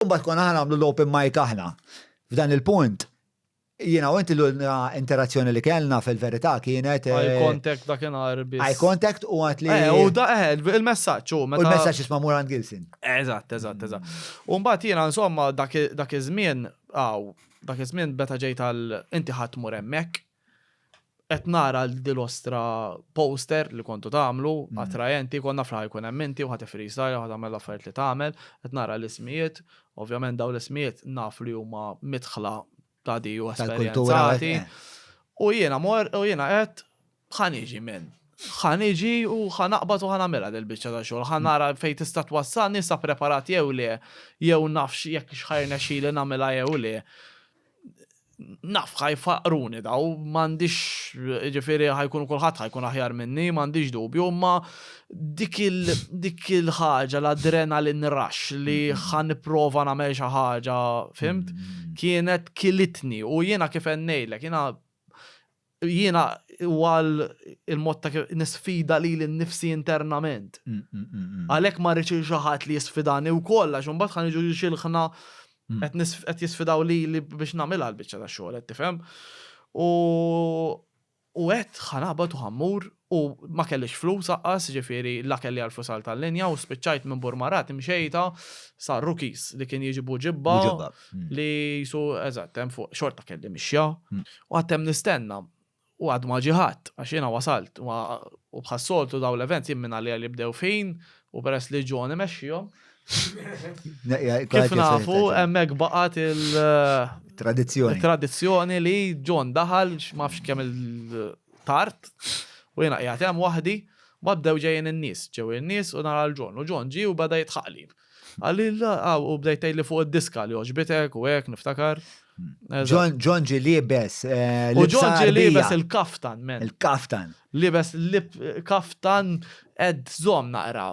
U mbagħad konna ħa nagħmlu l-open mic aħna. F'dan il-punt, jiena u inti l-ulna interazzjoni li kellna fil-verità kienet. Eye eh, contact dak inhar biss. Eye contact u għat li. Eh, u da, eh, il-messaġġ u meta. U l-messaġġ isma' Muran Gilson. Eżatt, eżatt, eżatt. U mbagħad jiena insomma dak iż-żmien, aw, dak iż-żmien beta ġejt għal inti ħadd mur hemmhekk. Qed nara l din l-ostra poster li kontu tagħmlu, attrajenti, kont naf li ħajkun hemm inti u ħa tifreestyle u ħa tagħmel l-affarijiet li tagħmel, qed nara l-ismijiet, ovvjament dawn l-ismijiet naf li huma midħla ta' di u esperjenzati. U jiena mor u jiena għedt ħa niġi men. Ħa niġi u ħa naqbad u ħa nagħmilha dil-biċċa ta' xogħol, ħa nara fejn tista' twassalni, sa preparat jew le, jew nafx jekk x'ħa jirnexxili nagħmilha jew le. naf ħajfaqqruni daw, m'għandix jiġifieri ħajkun kulħadd ħajkun aħjar minni, m'għandix dubju, imma dik dik il-ħaġa l-adrenalin rush li ħa nipprova nagħmel xi ħaġa, fimt? Kienet kilitni u jiena kif ngħidlek, jiena Jiena huwa l-mod ta' kif nisfida lili nnifsi internament. Għalhekk ma rridx li xi ħadd li jisfidani wkoll għax imbagħad ħa niġu xilħna qed jisfidaw lili biex nagħmilha l-biċċa tax-xogħol qed tifhem. U għedt ħa naqbad u ħa mmur U ma kellix flus aqqas, jiġifieri la kelli għal flus għal tal-linja u spiċċajt minn Burmarat imxejta sa Rookies li kien jiġi Buġibba li qisu eżatt hemm fuq xorta kelli mixja u għad hemm nistenna u għad ma ġie ħadd għax jiena wasalt u bħas-soltu dawn l-events jien minn għalija li jibdew f'ħin u peress li John imexxihom kif nafu hemmhekk baqgħet il tradizzjoni li John daħal ma nafx kemm il tard, u jiena qiegħed hemm waħdi, mbagħad bdew ġejjin in-nies, ġew in-nies u nara lil John, u John ġie u beda jidħaqli. Qalli, u bdejt tgħidli fuq id-diska li għoġbitek u hekk niftakar. John ġi libes. Eh, u John ġi libes il-kaftan, men. Il-kaftan. Libes kaftan ed zom naqra.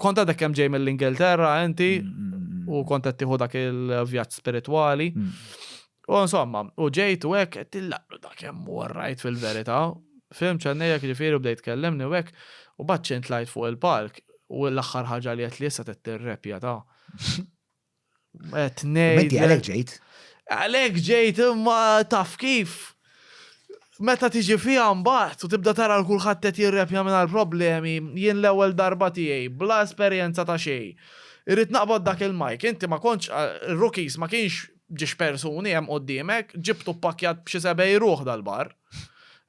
Kont għadek kemm ġej mill-Ingilterra inti u kont qed tieħu dak il-vjaġġ spiritwali. U insomma, u ġejt u hekk qed tillaqlu dak kemm warrajt fil-verità. Film ċannejjek ġifieri u bdejt kellimni u hekk u baċċin tlajt fuq il-palk u l-aħħar ħaġa li qed li issa qed tirrepja ta' Tnejn. Għalek ġejt. Għalek ġejt imma taf kif. Meta tiġi fija mbagħad u tibda tara l-kulħadd qed jirrepja minn għall-problemi, jien l-ewwel darba tiegħi, bla esperjenza ta' xejn. Irrid naqbad dak il-mike, inti ma kontx rookies ma kienx ġiex persuni hemm quddiemek, ġibtu ppakkjat b'xi sebgħin ruħ dal-bar.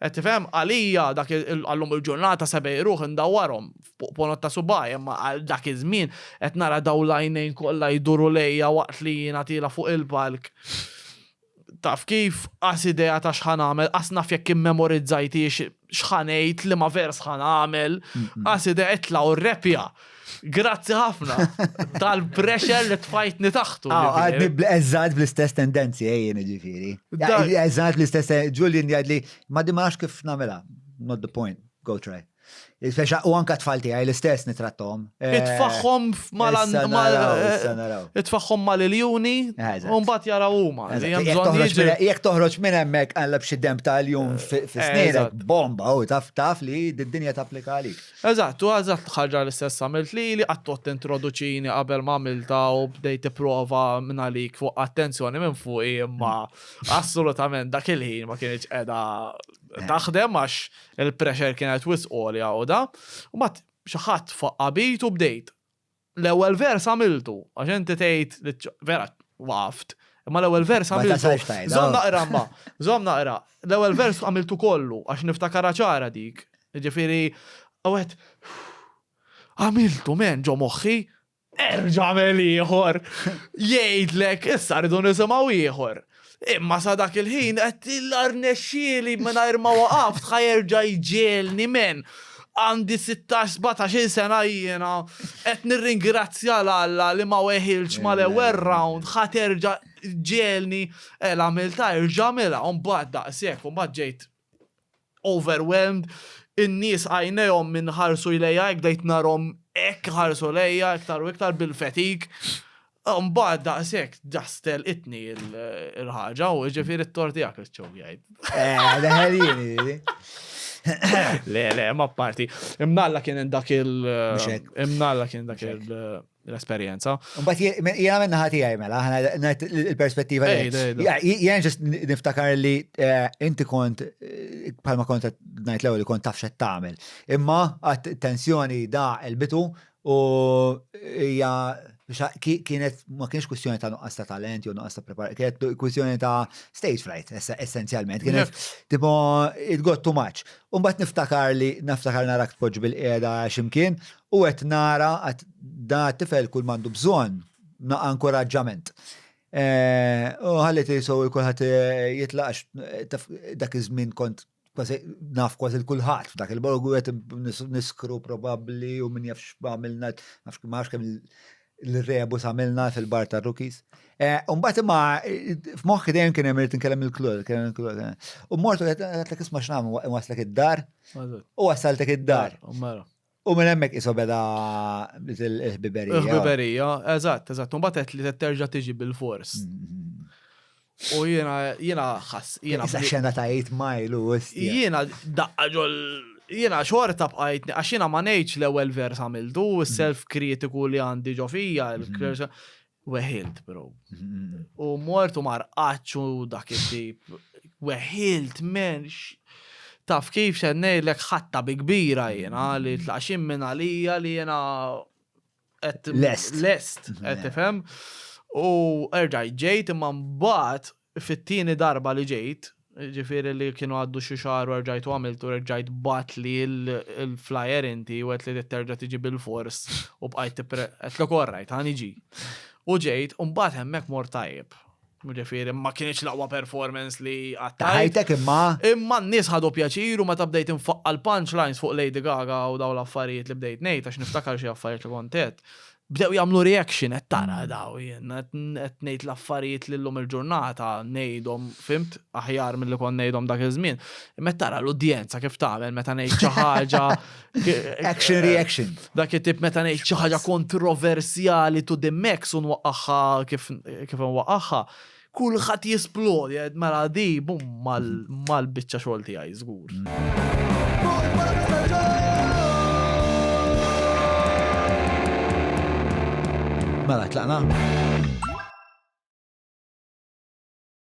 Qed tifhem? Għalija dak għallum il-ġurnata sebgħi ruħ indawwarhom fuq ponot ta' subgħajja imma għal dak iż-żmien qed nara dawn l-għajnejn kollha jduru lejja waqt li jiena tiela' fuq il-palk. Taf kif, qas idea ta' x'ħa nagħmel, qas naf jekk immemorizzajthiex x'ħa ngħid, liema vers ħa nagħmel, qas idea itla' u rrepja! Grazzi ħafna tal-pressure li tfajtni taħtu. Ah, għadni bl-eżad bl-istess tendenzi, ejjen ġifiri. Eżad bl-istess, Julian jgħadli, ma dimax kif namela, not the point, go try. Il-fexa u anka tfalti għaj l-istess nitrattom. Eh, itfaħħom mal-an. Eh, itfaħħom mal-iljuni. Eh, Umbat jara huma. Jek toħroġ minn hemmhekk għalla b'xi demb tal-jum fis-snin. Bomba u taf taf li d-dinja tapplika għalik. Eżatt, u eżatt ħaġa l-istess għamilt lili, qatt għodt tintroduċini qabel ma għamiltha u bdejt tipprova mingħalik fuq attenzjoni minn fuqi imma assolutament dak il-ħin ma kinitx qiegħda taħdem għax il-pressure kienet wisq għolja u da. U mbagħad xi ħadd faqqa bit u bdejt. L-ewwel vers għamiltu, għax inti tgħid li vera waqaft. Imma l-ewwel vers għamiltu. Żomm naqra ma, żomm naqra. L-ewwel vers għamiltu kollu għax niftakara ċara dik. Ġifieri, għawet, għamiltu men ġo moħħi, erġa' għamel ieħor. Jgħidlek, issa rridu nisimgħu ieħor. Imma sa dak il-ħin qed l-arnexxieli mingħajr ma waqaf ħajerġa jġielni men. Għandi 16-17 sena jiena qed nirringrazzja l Alla li ma weħilx mal-ewwel round ħaterġa ġielni el għamilta erġa' għamilha u mbagħad daqshekk u mbagħad ġejt overwhelmed, in-nies għajnejhom minn ħarsu lejja hekk bdejt narhom hekk iħarsu lejja iktar u iktar bil-fatig. Mbagħad daqshekk ġast telqitni l-ħaġa u ġifieri t-tor tiegħek iċċew jgħid. Eh, daħel jieni. Le, le, ma parti. Imnalla kien dak il. Imnalla kien dak il. l-esperjenza. But jena minna ħati għaj mela, ħana il-perspettiva li. Jena ġest niftakar li eh, inti kont, eh, palma kont najt l li kont taf xed tamel. Imma għat tensjoni da il-bitu u hija kienet ma kienx kwistjoni ta' nuqqas ta' talent jew nuqqas ta' prepar, kienet kwistjoni ta' stage fright essenzjalment. Kienet tipo it got too much. Umbat niftakar li niftakar narak tpoġġ bil-qiegħda x'imkien U qed nara qed dan it-tifel kull m'għandu bżonn naqa' inkuraġġament. U ħalli tisu kulħadd jitlaq għax taf dak iż-żmien kont kważi naf kważi l-kulħadd f'dak il-borgu qed niskru probabbli u min jafx għamilna nafx ma nafx kemm l-rebus għamilna fil-bar tar-rookies. U mbagħad imma f'moħħi dejjem kien hemm irid inkellem il-klur, kellem il-klur. U mortu qed isma' x'nagħmlu waslek id-dar u wasaltek id-dar. U minn hemmhekk isu beda il-ħbiberija. Il-ħbiberija, eżatt, eżatt. Mbagħad qed li terġa' tiġi bil-fors. U jiena jiena ħass jiena. Issa xena ta' 8 mile u Jiena daqqa ġol jiena xorta bqajtni għax jiena ma ngħidx l-ewwel vers għamiltu, self kritiku li għandi ġo fija, Weħilt, bro. U mortu marqaċ u dak it-tip. Weħilt, men. Taf kif se ngħidlek ħatta bi kbira jiena li tlaxim minn għalija li jiena lest. Lest, qed tifhem. U erġaj ġejt imma mbagħad Fit-tieni darba li ġejt, jiġifieri li kienu għaddu xi xahar u erġajt u għamilt u reġġajt bgħatli l-flyer inti u għedtli trid terġa' tiġi bilfors u bqajt tipre. Għedtlok orrajt, ħa niġi. U ġejt u mbagħad hemmhekk mort tajjeb. Jiġifieri ma kinitx l-aqwa performance li qatt Ta' għamilt. ħajtek imma. Imma n-nies ħadu pjaċir u meta bdejt infaqqa' l-punchlines fuq Lady Gaga u dawn l-affarijiet li bdejt ngħid għax niftakar xi affarijiet li kont għedt, Bdew jagħmlu reaction qed tara daw jien qed ngħid l-affarijiet li llum il-ġurnata ngħidhom fimt aħjar milli kont ngħidhom dak iż-żmien. Imma tara l-udjenza kif tagħmel meta ngħid xi ħaġa action reaction. Dak it-tip meta ngħid xi ħaġa kontroversjali to the max u nwaqqagħha kif kif nwaqqagħha. Kulħadd jesplori qed mela di bum mal-biċċa xogħol tiegħi żgur. Mela tlaqna.